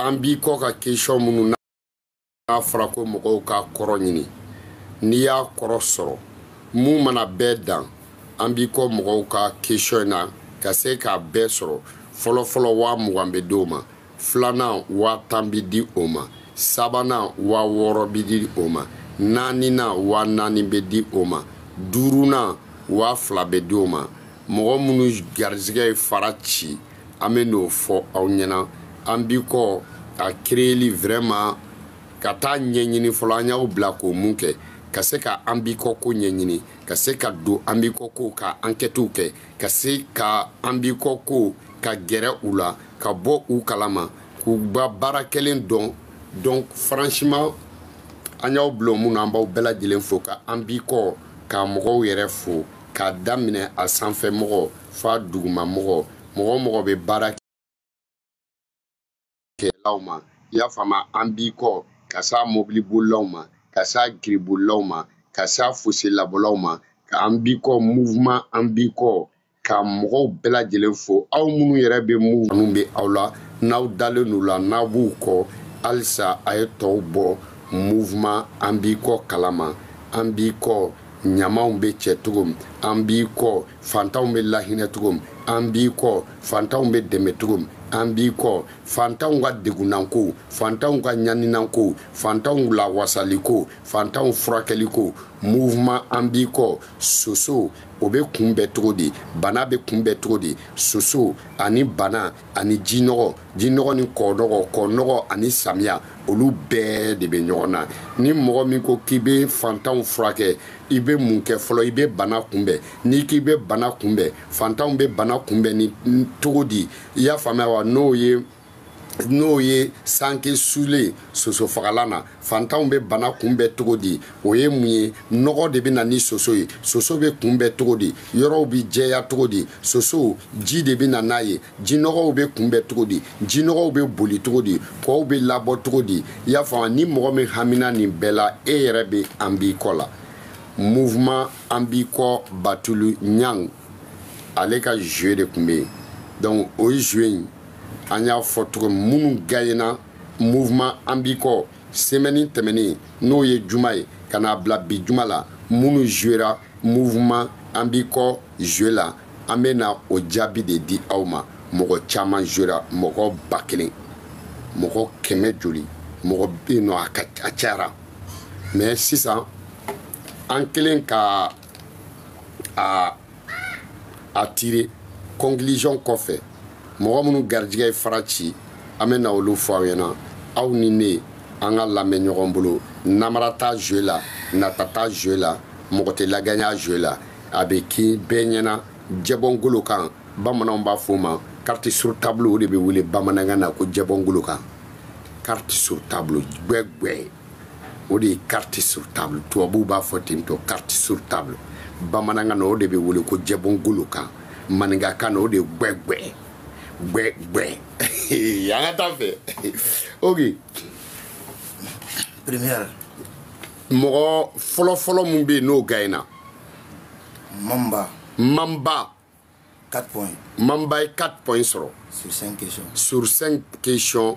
an b'i kɔ ka question minnu n'a fɔra ko mɔgɔw k'a kɔrɔ ɲini n'i y'a kɔrɔ sɔrɔ min mana bɛɛ dan an b'i kɔ mɔgɔw ka question na ka se k'a bɛɛ sɔrɔ fɔlɔfɔlɔ waa mugan bɛ d'o ma filanan waa tan bi di o ma sabanan waa wɔɔrɔ bi di o ma naaninan waa naani bɛ di o ma duurunan waa fila bɛ di o ma mɔgɔ minnu garizigɛ ye fara ci an bɛ n'o fɔ aw ɲɛna an b'i kɔ a kereyeli vraiment ka taa ɲɛɲini fɔlɔ an y'aw bila ka mun kɛ ka se ka an b'i kɔ ko ɲɛɲini ka se k'a dɔn an b'i kɔ ko ka ankɛtiw kɛ ka se ka an b'i kɔ ko ka gɛrɛ u la ka bɔ u kalama k'u ka baara kɛlen dɔn donc franchement an y'aw bila min na an b'aw bɛɛ lajɛlen fo ka an b'i kɔ ka mɔgɔw yɛrɛ fo k'a daminɛ a sanfɛ mɔgɔ f'a duguma mɔgɔ mɔgɔ o mɔgɔ bɛ baara kɛlaw ma i y'a faamu an b'i kɔ ka s'a mobili bolilaw ma ka s'a giribolilaw ma ka s'a foselabɔlaw ma ka an b'i kɔ mouvement an b'i kɔ ka mɔgɔw bɛɛ lajɛlen fo aw minnu yɛrɛ bɛ mouvement bɛ aw la n'aw dalen don u la n'aw b'u kɔ halisa a ye tɔw bɔ mouvement an b'i kɔ kalama an b'i kɔ ɲamaw bɛ cɛ cogo min an b'i kɔ fantanw bɛ lahinɛ cogo min an b'i kɔ fantanw bɛ dɛmɛ cogo min an b'i kɔ fantanw ka degunnako fantanw ka ɲaninako fantanw lawasaliko fantanw furakɛliko mouvement an b'i kɔ soso o bɛ kunbɛn cogo di bana bɛ kunbɛn cogo di soso ani bana ani ji nɔgɔ ji nɔgɔ ni kɔ nɔgɔ kɔ nɔgɔ ani samiya olu bɛɛ de bɛ ɲɔgɔn na ni mɔgɔ min ko k'i bɛ fantanw furakɛ i bɛ mun kɛ fɔlɔ i bɛ bana kunbɛn n'i k'i bɛ bana kunbɛn fantanw bɛ bana kunbɛn ni cogo di i y'a faamuya wa n'o ye n'o ye sanke sulen sosofagalan na fantanw bɛ bana kunbɛn cogo di o ye mun ye nɔgɔ de bɛ na ni soso ye soso bɛ kunbɛn cogo di yɔrɔw bɛ jɛya cogo di soso ji de bɛ na n'a ye jinɔgɔw bɛ kunbɛn cogo di jinɔgɔw bɛ boli cogo di kɔw bɛ labɔ cogo di i y'a faamu ni mɔgɔ min hamina nin bɛɛ la e yɛrɛ bɛ an b'i kɔ la mouvement an b'i kɔ batuli ɲani ale ka jeu de tun bɛ yen donc o jeu in an y'a fɔ cogo min minnu gagner na mouvement an b'i kɔ semaine tɛmɛnen n'o ye juma ye ka n'a bila bi juma la minnu jouera mouvement an b'i kɔ joue la an bɛ na o jaabi de di aw ma mɔgɔ caman jouera mɔgɔ ba kelen mɔgɔ kɛmɛ joli mɔgɔ bɛ yen non a ka a cayara mais sisan an kelen ka a a tire conclusion kɔfɛ mɔgɔ minnu garijigɛ ye fara ci an bɛ na olu fɔ aw ɲɛna aw ni ne an ka lamɛn ɲɔgɔn bolo namara t'a jeu la nata t'a jeu la mɔgɔ tɛ laganya jeu la a bɛ kɛ bɛɛ ɲɛna jɛbɔngolo kan bamananw b'a fɔ o ma carte sur table o de bɛ wele bamanankan na ko jɛbɔngolo kan carte sur table gbɛgbɛ o de ye carte sur table tubabuw b'a fɔ ten tɔ carte sur table bamanankan na o de bɛ wele ko jɛbɔngolo kan maninkakan na o de ye gbɛgbɛ gbɛgbɛ an ka taa fɛ ok première mɔgɔ fɔlɔfɔlɔ min bɛ yen n'o gayina mamba mamba 4 points mamba ye 4 points sɔrɔ sur 5 questions sur 5 questions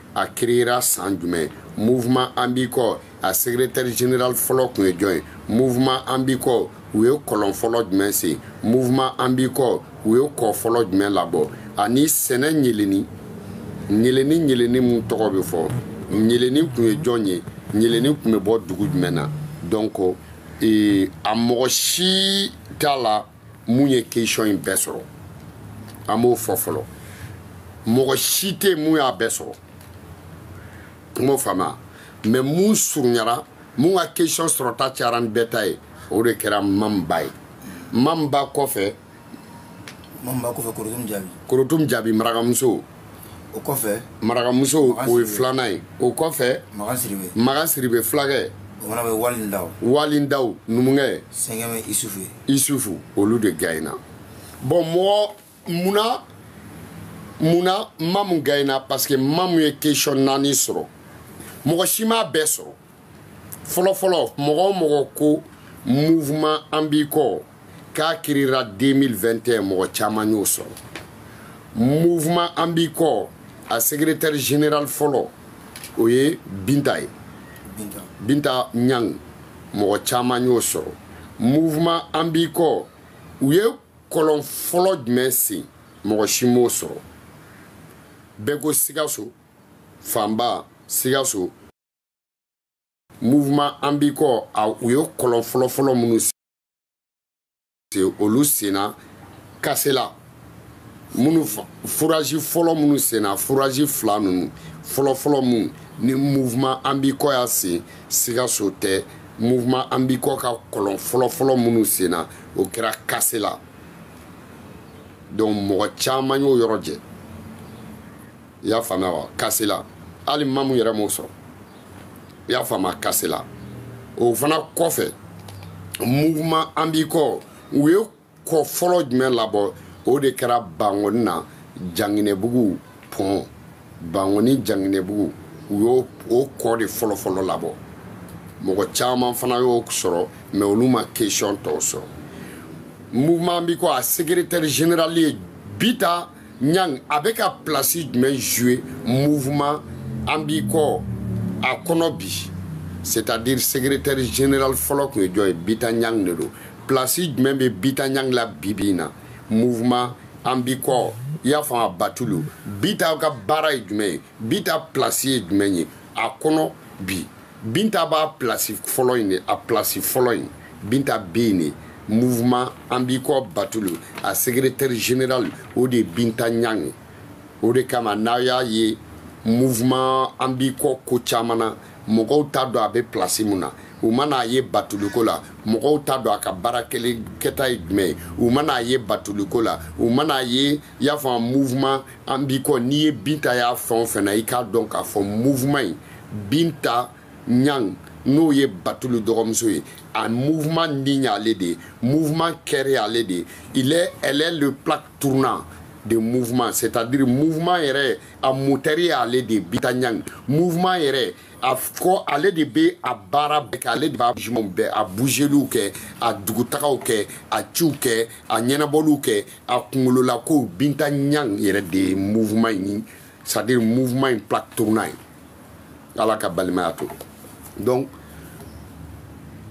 a créera san jumɛn mouvement an b'i kɔ a secrétaire général fɔlɔ tun ye jɔn ye mouvement an b'i kɔ u ye kɔlɔn fɔlɔ jumɛn sen mouvement an b'i kɔ u ye kɔ fɔlɔ jumɛn labɔ ani sɛnɛ ɲeleni ɲeleni ɲeleni min tɔgɔ bɛ fɔ ɲeleni tun ye jɔn ye ɲeleni tun bɛ bɔ dugu jumɛn na donc ee, a mɔgɔ si t'a la mun ye question in bɛɛ sɔrɔ an b'o fɔ fɔlɔ mɔgɔ si tɛ mun y'a bɛɛ sɔrɔ n b'o faamuya mais mun surunyara mun ka question sɔrɔta cayara ni bɛɛ ta ye o de kɛra mamba ye mamba kɔfɛ mamba kɔfɛ korotum jabi korotum jabi marakamuso o kɔfɛ marakamuso o ye filanan ye o kɔfɛ magan sidibe magan sidibe fulakɛ o fana bɛ wali ndaw wali ndaw numukɛ sɛgɛmɛ isufu ye isufu olu de gayina bon mɔgɔ munna munna mamu gayina parce que mamu ye question naani sɔrɔ mɔgɔ si m'a bɛɛ sɔrɔ fɔlɔfɔlɔ mɔgɔ o mɔgɔ ko mouvement an b'i kɔ k'a créera 2021 mɔgɔ caman y'o sɔrɔ mouvement an b'i kɔ a secrétaire général fɔlɔ o ye binta ye binta ɲang mɔgɔ caman y'o sɔrɔ mouvement an b'i kɔ u ye kɔlɔn fɔlɔ jumɛn sen mɔgɔ si m'o sɔrɔ bɛɛ ko sikaso fanba sikaso mouvement an b'i kɔ u ye kɔlɔn fɔlɔfɔlɔ minnu olu senna kasela minnu furazi fɔlɔ minnu senna furazi fila ninnu fɔlɔfɔlɔ minnu ni mouvement an b'i kɔ y'a sen sikaso tɛ mouvement an b'i kɔ ka kɔlɔn fɔlɔfɔlɔ minnu senna o kɛra kasela donc mɔgɔ caman y'o yɔrɔ jɛ i y'a faamuya wa kasela hali mamu yɛrɛ m'o sɔrɔ i y'a faamuya kasela o fana kɔfɛ mouvement an b'i kɔ u ye kɔ fɔlɔ jumɛn labɔ o de kɛra bangoni na janginɛbugu pɔn bangoni janginɛbugu u y'o o kɔ de fɔlɔfɔlɔ labɔ mɔgɔ caman fana y'o sɔrɔ mɛ olu ma kesiyɔn tɔw sɔrɔ mouvement an b'i kɔ a secrétaire général ye binta ɲang a bɛ ka pilasi jumɛn joue mouvement an b'i kɔ a kɔnɔ bi c'est à dire secrétaire général fɔlɔ tun ye jɔn ye binta ɲang de don pilasi jumɛn bɛ binta ɲang la bibi in na mouvement an b'i kɔ i y'a faamu a batulu binta ka baara ye jumɛn ye binta pilasi ye jumɛn ye a kɔnɔ bi binta b'a plasi fɔlɔ in de a plasi fɔlɔ in binta bɛ yen de mouvement an b'i kɔ batulu a secrétaire général o de ye binta ɲang ye o de kama n'a y'a ye mouvement an b'i kɔ ko caman na mɔgɔw t'a dɔn a bɛ plasi mun na u mana a ye batuliko la mɔgɔw t'a dɔn a ka baara kɛta ye jumɛn ye u mana a ye batuliko la u mana a ye i y'a fɔ mouvement an b'i kɔ n'i ye binta y'a fɛn o fɛn na i k'a dɔn k'a fɔ mouvement in binta ɲang n'o ye batulu dɔgɔmuso ye a mouvement nin y'ale de ye mouvement cœur y'ale de ye il est elle est le plaque tournant de mouvement c'est-à-dire mouvement yɛrɛ a motɛri y'ale de ye binta ɲang mouvement yɛrɛ a kɔ ale de bɛ a baara bɛɛ kɛ ale de b'a jumanw bɛɛ a buzeliw kɛ a dugutagaw kɛ a ciw kɛ a ɲɛnabɔliw kɛ a kunkololakow binta ɲang yɛrɛ de ye mouvement in ni c'est à dire mouvement in plaque tournant ye ala ka balimaya to donc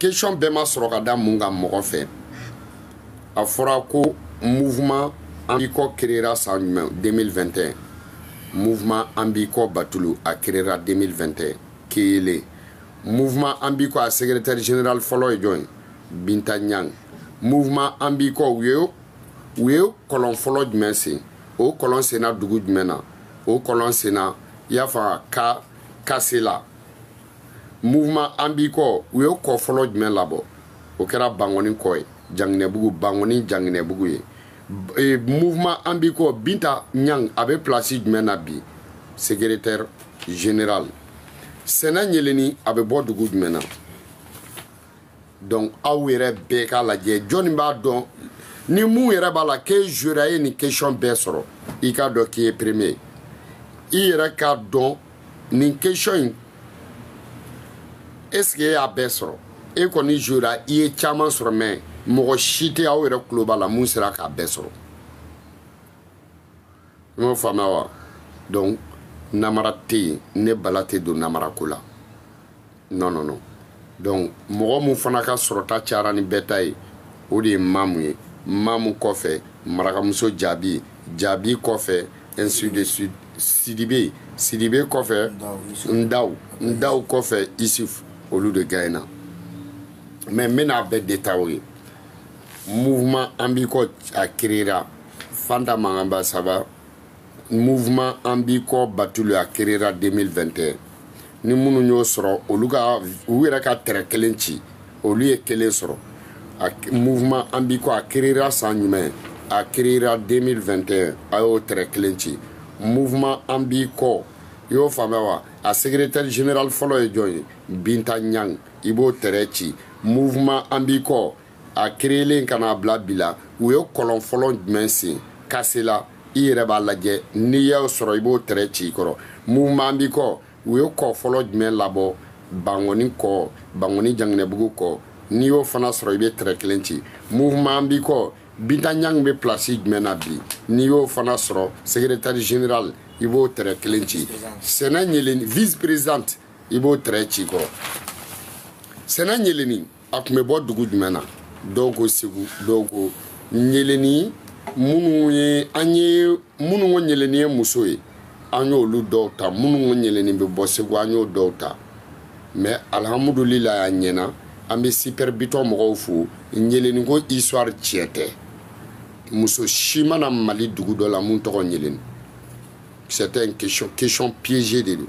question bɛɛ ma sɔrɔ ka da mun kan mɔgɔ fɛ a fɔra ko mouvement an b'i kɔ créera san jumɛn 2021 mouvement an b'i kɔ batulu a créera 2021 kelen mouvement an b'i kɔ a secrétaire général fɔlɔ ye jɔn ye binta ɲang mouvement an b'i kɔ u ye u ye kɔlɔn fɔlɔ jumɛn sen o kɔlɔn senna dugu jumɛn na o kɔlɔn senna i y'a faamu ka kasela mouvement an b'i kɔ u ye kɔ fɔlɔ jumɛn labɔ o kɛra bangɔni kɔ ye janginɛbugu bangɔni janginɛbugu ye e, mouvement an b'i kɔ binta ɲang a bɛ pilasi jumɛn na bi secrétaire général sɛnɛ ɲeleni a bɛ bɔ dugu jumɛn na donc aw yɛrɛ bɛɛ k'a lajɛ jɔnni b'a dɔn ni mun yɛrɛ b'a la k'e jouera ye nin question bɛɛ sɔrɔ i k'a dɔn k'i ye premier i yɛrɛ k'a dɔn nin question in est ce que e y'a bɛɛ sɔrɔ e kɔni jouera i ye caman sɔrɔ mɛ mɔgɔ si tɛ aw yɛrɛ tulo b'a la mun sera k'a bɛɛ sɔrɔ n y'o faamuya wa donc namara tɛ yen ne bala tɛ don namara ko la non non non donc mɔgɔ min fana ka sɔrɔta cayara ni bɛɛ ta ye o de ye mamu ye mamu kɔfɛ marakamuso jaabi jaabi kɔfɛ ainsi de suite sidibe sidibe kɔfɛ ndaw ndaw kɔfɛ isuf olu de gagnéna mais n bɛna a bɛɛ détailler mouvement an b'i kɔ a créera fanta mankanba saba mouvement an b'i kɔ batuli a créera 2021 ni minnu y'o sɔrɔ olu ka u yɛrɛ ka tɛrɛ kelen ci olu ye kelen sɔrɔ a mouvement an b'i kɔ a créera san jumɛn a créera 2021 a y'o tɛrɛ kelen ci mouvement an b'i kɔ i y'o faamuya wa a secrétaire général fɔlɔ ye jɔn ye binta ɲang i b'o tɛrɛ ci mouvement an b'i kɔ a créelen ka n'a bila bi la u ye kɔlɔn fɔlɔ jumɛn sen kasela i yɛrɛ b'a lajɛ n'i y'o sɔrɔ i b'o tɛrɛ ci i kɔrɔ mouvement b'i kɔ u ye kɔ fɔlɔ jumɛn labɔ bankɔni kɔ bankɔni janginɛbugu kɔ n'i y'o fana sɔrɔ i bɛ tɛrɛ kelen ci mouvement b'i kɔ binta ɲang bɛ pilasi jumɛn na bi n'i y'o fana sɔrɔ secrétaire général i b'o tɛrɛ kelen ci sɛnɛ ɲeleni vice présidente i b'o tɛrɛ ci kɔrɔ sɛnɛ ɲeleni a tun bɛ bɔ dugu jumɛn na dɔw ko segu dɔw ko ɲeleni minnu ye an ye minnu ko ɲeleni ye muso ye an y'olu dɔw ta minnu ko ɲeleni bɛ bɔ segu an y'o dɔw ta mais alihamudulilayi a ɲɛna an bɛ super bitɔn mɔgɔw fo ɲeleni ko histoire tiɲɛ tɛ muso si ma na mali dugu dɔ la mun tɔgɔ ɲeleni c'est un question question piégé de don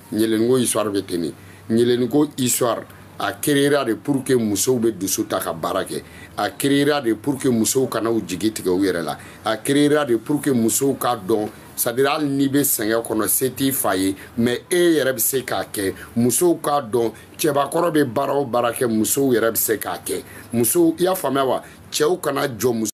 ɲeleniko histoire bɛ ten de ɲeleniko histoire a créera de pour que musow bɛ dusu ta ka baara kɛ a créera de pour que musow kana u jigi tigɛ u yɛrɛ la a créera de pour que musow k'a dɔn c'est-à-dire hali n'i bɛ sɛgɛn kɔnɔ se t'i fa ye mais e yɛrɛ bɛ se k'a kɛ musow k'a dɔn cɛbakɔrɔ bɛ baara o baara kɛ musow yɛrɛ bɛ se k'a kɛ musow i y'a faamuya wa cɛw kana jɔ muso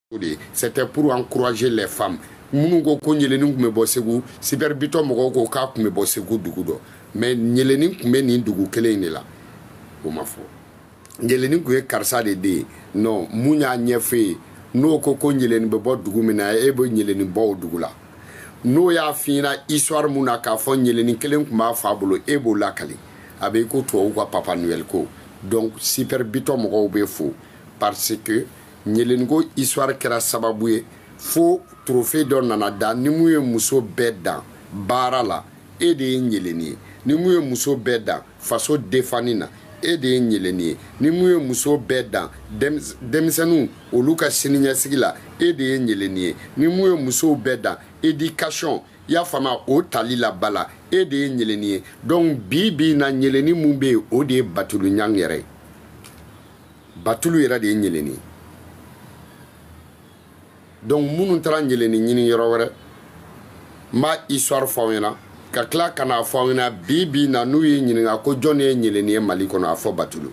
o de ye c'était pour encourager les femmes minnu ko ko ɲelenin tun bɛ bɔ segu super bitɔn mɔgɔw ko k'a tun bɛ bɔ segu dugu dɔ mais ɲelenin tun bɛ nin dugu kelen in de la o ma fɔ ɲelenin tun ye karisa de den ye non mun y'a ɲɛfɔ ye n'o ko ko ɲelenin bɛ bɔ dugu min na e bɛ ɲelenin bɔ o dugu la n'o y'a fiɲɛna histoire mun na k'a fɔ ɲelenin kelen tun b'a fa bolo e b'o lakali a bɛ i ko tubabuw ka papa noël ko donc super bitɔn mɔgɔw bɛ fo parce que ɲeleniko histoire kɛra sababu ye fo trophée dɔ nana da ni mun ye muso bɛɛ dan baara la e de ye ɲeleni ye ni mun ye muso bɛɛ dan faso defanni na e de ye ɲeleni ye ni mun ye muso bɛɛ dan denmisɛnninw olu ka siniɲɛsigi la e de ye ɲeleni ye ni mun ye musow bɛɛ dan éducation y'a faamuya o tali la bala e de ye ɲeleni ye donc bi bi in na ɲeleni mun bɛ yen o de ye batulu ɲang yɛrɛ ye batulu yɛrɛ de ye ɲeleni ye donc minnu taara ɲeleni ɲini yɔrɔ wɛrɛ n b'a histoire fɔ aw ɲɛna ka tila ka n'a fɔ aw ɲɛna bi bi na n'u y'i ɲininka ko jɔn ye ɲeleni ye mali kɔnɔ a fɔ batulu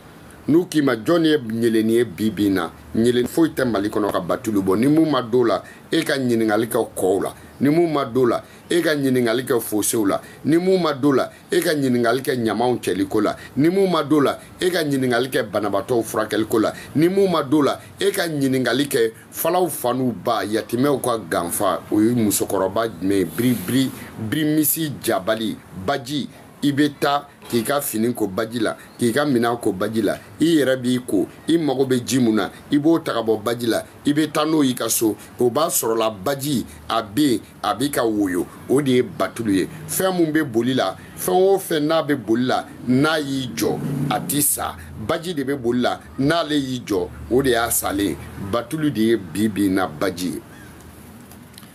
n'u k'i ma jɔn ye ɲeleni ye bi bi na ɲeleni foyi tɛ mali kɔnɔ ka batulu bɔ ni mun ma d'o la e ka ɲininkali kɛ kɔw la ni mun ma d'o la e ka ɲininkali kɛ fosew la ni mun ma d'o la e ka ɲininkali kɛ ɲamaw cɛliko la ni mun ma d'o la e ka ɲininkali kɛ banabaatɔw furakɛliko la ni mun ma d'o la e ka ɲininkali kɛ falaw fa n'u ba yatimɛw ka ganfa o ye musokɔrɔba jumɛn ye biri biri birimisi jabali baji i bɛ taa k'i ka fini ko baji la k'i ka minan ko baji la i yɛrɛ b'i ko i mago bɛ ji mun na i b'o ta ka bɔ baji la i bɛ taa n'o y'i ka so o b'a sɔrɔla baji a bɛ yen a bɛ ka woyo o de ye batulu ye fɛn min bɛ boli la fɛn o fɛn n'a bɛ boli la n'a y'i jɔ a tɛ sa baji de bɛ boli la n'ale y'i jɔ o de y'a salen ye batulu de ye bi bi in na baji ye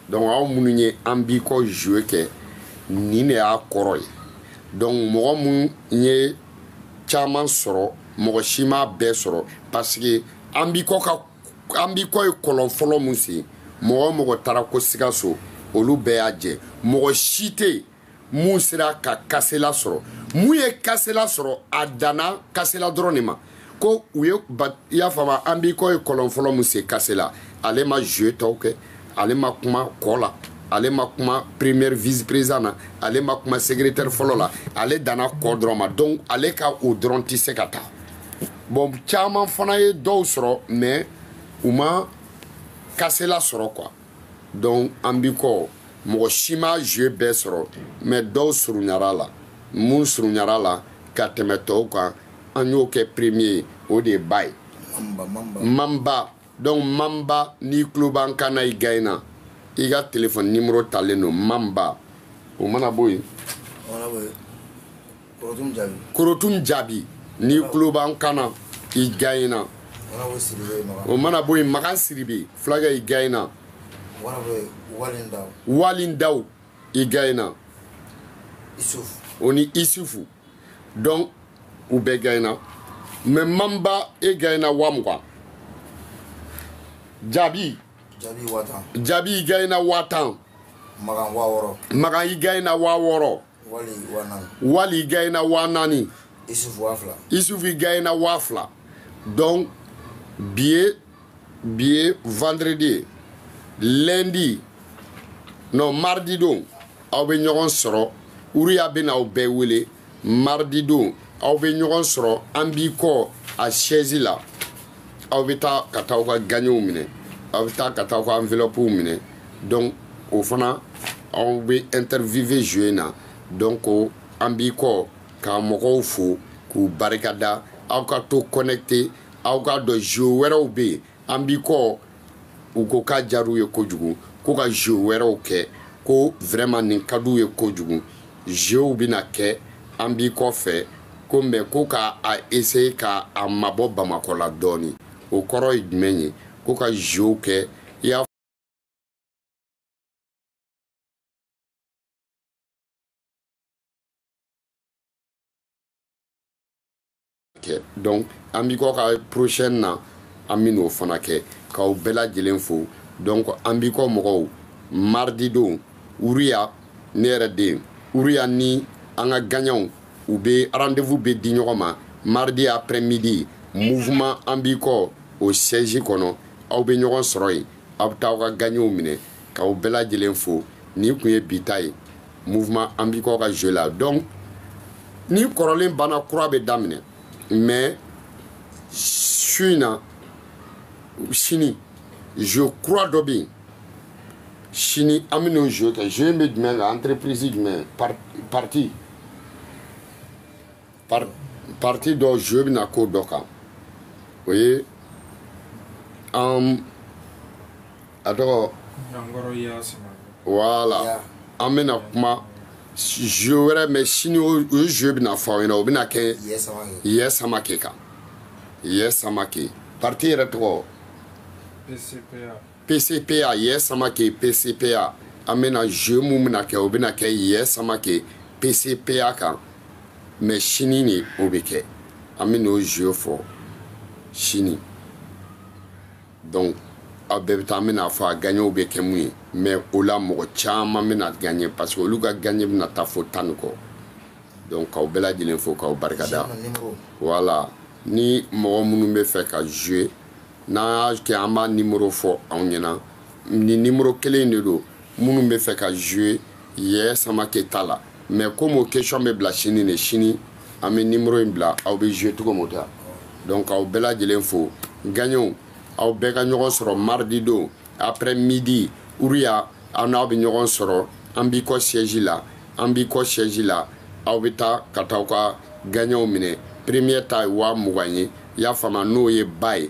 donc aw minnu ye an b'i kɔ jeu kɛ nin de y'a kɔrɔ ye donc mɔgɔ minnu ye caman sɔrɔ mɔgɔ si m'a bɛɛ sɔrɔ parce que an b'i kɔ ka an b'i kɔ ye kɔlɔn fɔlɔ mun sen mɔgɔ o mɔgɔ taara ko sikaso olu bɛɛ y'a jɛ mɔgɔ si tɛ yen mun sera ka kasela sɔrɔ mun ye kasela sɔrɔ a danna kasela dɔrɔn de ma quoi i y'a faamu an b'i kɔ ye kɔlɔn fɔlɔ mun sen kasela ale ma jeu tɔw kɛ ale ma kuma kɔ la ale ma kuma première vice président na ale ma kuma secrétaire fɔlɔ la ale danna kɔ dɔrɔn ma donc ale ka o dɔrɔn tɛ se ka taa bon caman fana ye dɔw sɔrɔ mais u ma kasela sɔrɔ quoi donc an b'i kɔ mɔgɔ si ma jeu bɛɛ sɔrɔ mais dɔw surunyara la mun surunyara la ka tɛmɛ tɔw kan an y'o kɛ premier ye o de ye baye mamba donc mamba n'i tulo b'an kan na i gaɲɛna i ka telefɔni nimoro talen don mamba o mana bɔ yen korotum jabi n'i tulo b'an kan na i gaɲɛna o mana bɔ yen makan sidibe fulakɛ i gaɲɛna walin daw i gaɲɛna o ni isufu donc u bɛɛ gɛnna mɛ manba e gɛnna wa mugan jaabi jaabi waa tan jaabi i gɛnna waa tan magan waa wɔɔrɔ magan i gɛnna waa wɔɔrɔ wali waa naani wali i gɛnna waa naani isufu waa fila isufu i gɛnna waa fila donc bi ye bi ye vendredi ye lundi non mardi don aw bɛ ɲɔgɔn sɔrɔ uruya bɛna aw bɛɛ wele mardi don aw bɛ ɲɔgɔn sɔrɔ an b'i kɔ a siège la aw bɛ taa ka taa aw ka gaɲɛw minɛ aw bɛ taa ka taa aw ka enveloppes minɛ donc o fana aw bɛ interviewe jouer na donc an b'i kɔ k'a mɔgɔw fo k'u barikada aw ka to connecte aw k'a dɔn jeu wɛrɛw bɛ yen an b'i kɔ u ko k'a jar'u ye kojugu ko ka jeu wɛrɛw kɛ ko vraiment nin ka d'u ye kojugu jeuw bɛna kɛ an b'i kɔ fɛ ko mɛ ko ka a essaye ka a mabɔ bamakɔ la dɔɔni o kɔrɔ ye jumɛn ye ko ka jeuw kɛ i y'a kɛ donc an b'i kɔ ka prochaine na an bɛ n'o fana kɛ k'aw bɛɛ lajɛlen fo donc an b'i kɔ mɔgɔw mardi don uruya ne yɛrɛ den uruya ni an ka gaɲɛw u bɛ rendez-vous bɛ di ɲɔgɔn ma mardi après midi mouvement an b'i kɔ o siège kɔnɔ aw bɛ ɲɔgɔn sɔrɔ yen aw bɛ taa aw ka gaɲɛw minɛ k'aw bɛɛ lajɛlen fo nin tun ye bi ta ye mouvement an b'i kɔ ka jeu la donc ni kɔrɔlen banna kura bɛ daminɛ mais su in na sini jeu kura dɔ bɛ yen sini an bɛ n'o jeu kɛ jeu in bɛ jumɛn kan entreprise jumɛn parti parti dɔ jeu bɛ na ko dɔ kan o ye an a tɔgɔ wala an bɛna kuma jeu wɛrɛ mɛ sini o jeu bɛna fɔ aw ɲɛna o bɛna kɛ yɛ samake kan yɛ samake parti yɛrɛ tɔgɔ pcpa yɛ samake pcpa an bɛna jeu mun bɛna kɛ o bɛna kɛ yɛ samake pcpa kan mɛ sini de o bɛ kɛ an bɛ n'o jeu fɔ sini dɔnku aw bɛɛ bɛ taa an bɛna a fɔ a gaɲɛw bɛ kɛ mun ye mɛ o la mɔgɔ caman bɛna gaɲɛ parce que olu ka gaɲɛ bɛna taa fo tan ni kɔ dɔnku k'aw bɛɛ lajɛlen fo k'aw barikada wala ni mɔgɔ minnu bɛ fɛ ka joue n'an y'a kɛ an b'a nimoro fɔ aw ɲɛna ni nimoro kelen de don minnu bɛ fɛ ka joue yɛ samake ta la mais comme o question bɛ bila sini de sini an bɛ nimoro in bila aw bɛ joue cogo min ta donc aw bɛɛ lajɛlen fo gaɲɛw aw bɛɛ ka ɲɔgɔn sɔrɔ mardi don après midi uruya aw n'aw bɛ ɲɔgɔn sɔrɔ an b'i kɔ siège la an b'i kɔ siège la aw bɛ taa ka taa aw ka gaɲɛw minɛ première ta ye waa mugan ye y'a faamuya n'o ye ba ye